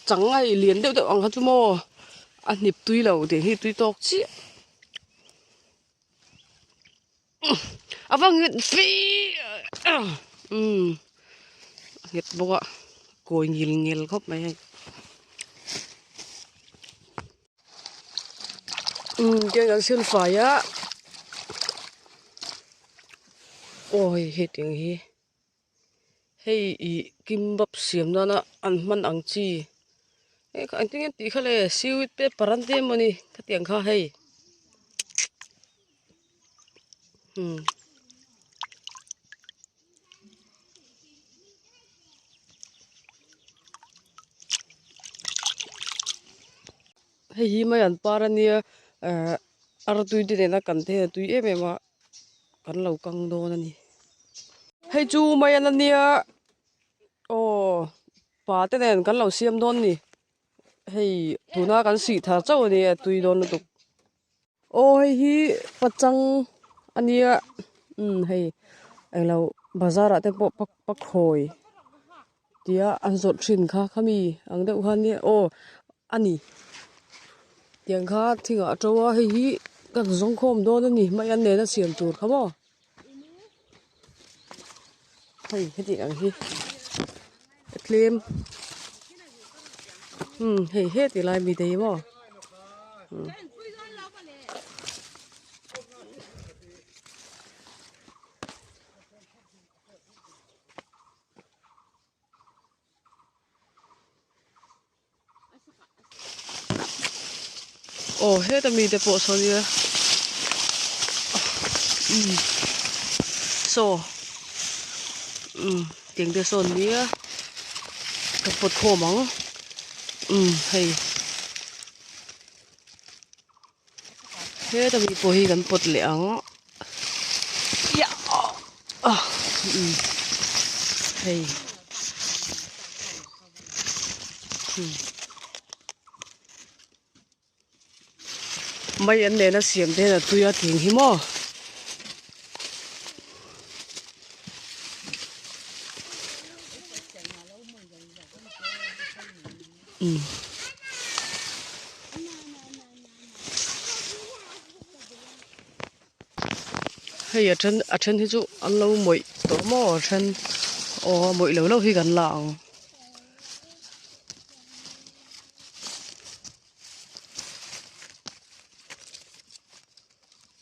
Changai lian deuh deuh ang kha chu maw a hnip tui lo tih hi tui tawk chiah a va nghet fiah umm a nghet bawk a kawi ngil ngil khawp mai a ni umm tiang kan siam fai a aw hei hetiang hi. Hei ih kimbap siam nana an hman ang chi eh ka engtin nge an tih kha le seaweed te parante emaw ni khati ang kha hei hmm hei hi mai an par ania eh artuite nena kan thei a tui em em a. kan lo kang dawn a ni. Hei chu mai an ania aw pa te nen kan lo siam dawn a ni hei tuna kan sih thar chauh a ni a tui dawn lutuk aw hei hi pachang a nia umm hei englo bazar ah te pawh pakhawi Tia an zawrh thin kha khami ang deuh khan nia aw a ni tiang kha thing ah a to a hei hi ka zawng khawm dawn a nih hmai an nen a siam tur kha maw hei heti ang hi a tlem umm hei he ti lai mi daih maw umm Aw heta mi te pawh saw nia um saw um tiang te sawn nia ka pot khawm ang um hei Heta mi pawh hi kan pawt leh ang a. Ia a umm hei umm mai an nena siam te hian a tui a tling hi maw Hei a then a then hi chu an lo mawih tawh maw a then aw a mawih lo lo hi kan la ang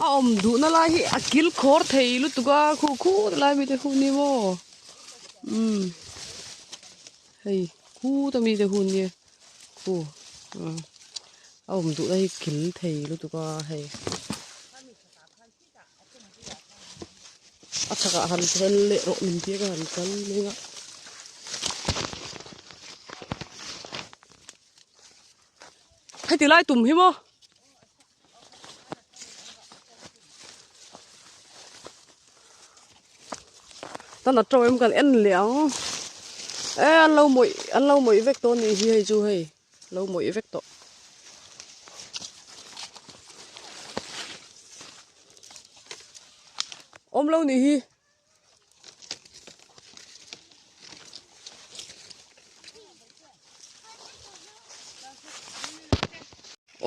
A awm duhna lai hi a kil khawr thei lutuk a khu khu na lai mite hun ni maw um hei khu ta mite hun ni khu um a awm duhna hi kil thei lutuk a hei a chhakah han fel leh rawh min tia ka han kal mai a heti lai tum hi maw tan a tawh em kan en leh ang e an lo mawih an lo mawih vek tawh a nih hi hei chu hei lo mawih vek tawh awm lo nih hi.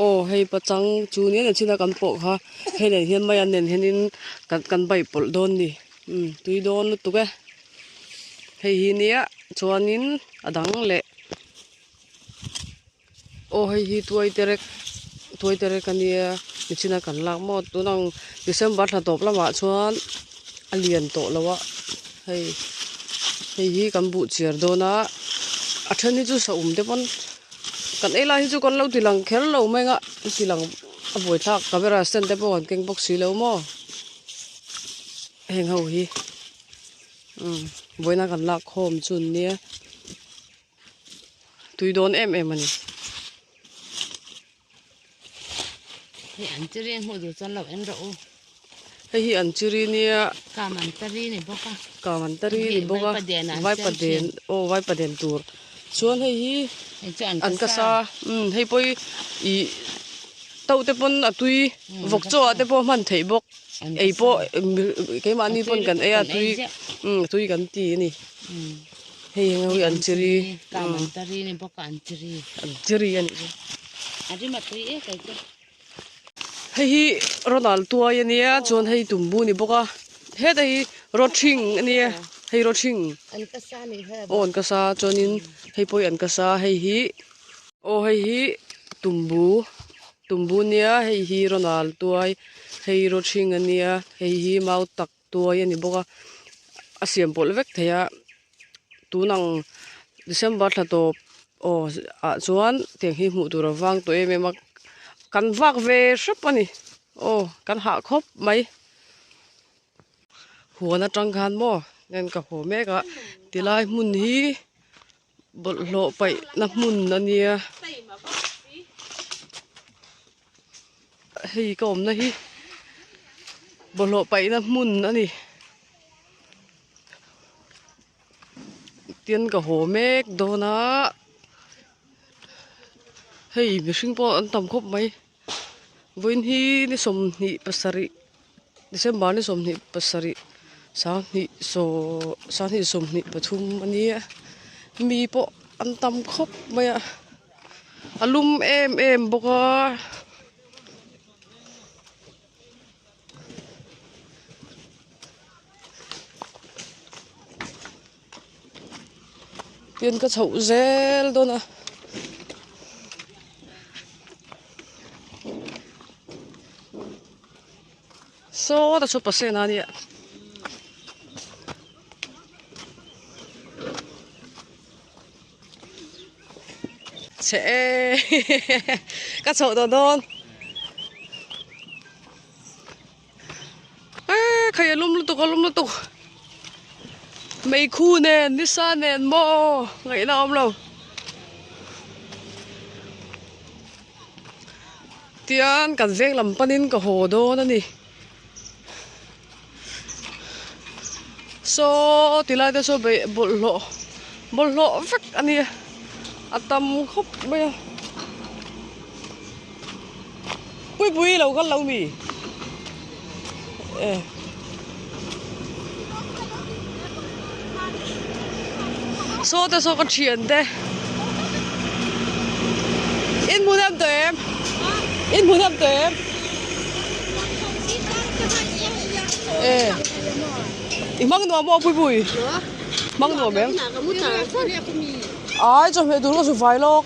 aw hei pachang chu niaina chhina kan pawh kha hei nen hian mai an nen hian in kan kan baih pawlh dawn ni umm tui dawn lutuk e hei hi nia chuan in a dang leh. Aw hei hi tuai terek tuai terek a nia nichin a kan lak maw tun ang December thla tawp lamah chuan a lian tawh lo a hei hei hi kan buh chhiar dawn a a then hi chu sahum te pawn kan ei lai hi chu kan lo ti lang kher lo mai nga ti lang a buai thlak camera stand te pawh kan keng bawk si lo maw heng ho hi buaina kan lak khawm chun nia. tui dawn em em a ni. Hei an chi ri hmuh duh chuan lo en rawh u. Hei hi an chi ri nia. Kam an ta ri ni bawk a. Kam an ta ri ni bawk a. Vaipa den an Vaipa den oh Vaipa den tur. Chuan hei hi hei chu an ka sa. Um hei pawh hi i to te pawn a tui vawk chaw ah te pawh hman theih bawk. Ei pawh keimah ni pawn kan ei a tui um tui kan ti a ni. Hei eng awi an chi ri. Ka man ta ri ni bawk a an chi ri. An chi ri a nih chu. A ri ma tui e kei chu. Hei hi Ronald tuai a nia chuan hei Tumbu a ni bawk a. Heta hi Rothing a nia. Hei Rothing. An ka sa ni hoi a bawk. Aw an ka sa chuanin hei pawh hi an ka sa hei hi. Aw hei hi Tumbu Tumbu a nia hei hi Ronald tuai hei Rothing a nia hei hi mau tak. tuai a ni bawk a a siam pawlh vek thei a tun ang December thla tawp aw ah chuan tiang hi hmuh tur a vang tawh em em a kan vak ve hrep a ni aw kan hah khawp mai huan atang khan maw ngen ka haw mek a tilai hmun hi-- Bawlhhlawh paihna hmun a nia. Hei ka awmna hi bawlhhlawh paihna hmun a ni. Tian ka haw mek dawn a. Hei mihring pawh an tam khawp mai. Vawiin hi ni sawmhnih pasarih December ni sawmhnih pasarih sanghnih saw sanghnih sawmhnih pathum a ni a mi pawh an tam khawp mai a a lum em em bawk a Pian ka chhoh zel dawn a. Saw ta chu pasena ania. Che e ka chhoh dawn dawn. Eee khaih alawm lutuk alawm lutuk Meikhu nen Nisa nen maw ngaihna a awm lo Tian kan veng lam panin ka haw dawn a ni Saw ti lai te saw bawlhhlawh bawlhhlawh vek a ni a a tam khawp mai a Puipui lo kal lo mi eh. Saw te saw ka thian te. In mun em to em. In mun em to em. Eh. I mang nuam mo puipui. Mang nuam em. Ai cho me dur ko su vai lok.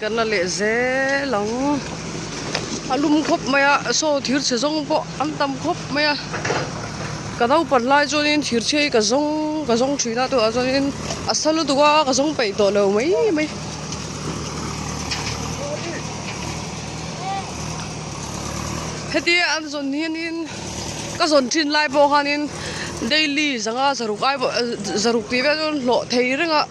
Ka na leh zel ang. A lum khawp mai a, saw thir chhe zawng pawh an tam khawp mai a. Ka naupang hlai chuanin thir chhe hi ka zawng ka zawng thin a, tunah chuanin a sa lutuk a, ka zawng peih tawh lo mai mai. Heti an zawn hianin ka zawn thin lai pawh khanin daily zanga zaruk ai pawh zaruk tih vel chuan hlawh thei reng a.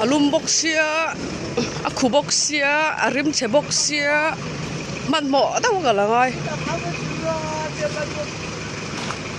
a lum bawk sia a khu bawk sia a rim chhe bawk sia hmanhmawh dauh ka la ngai.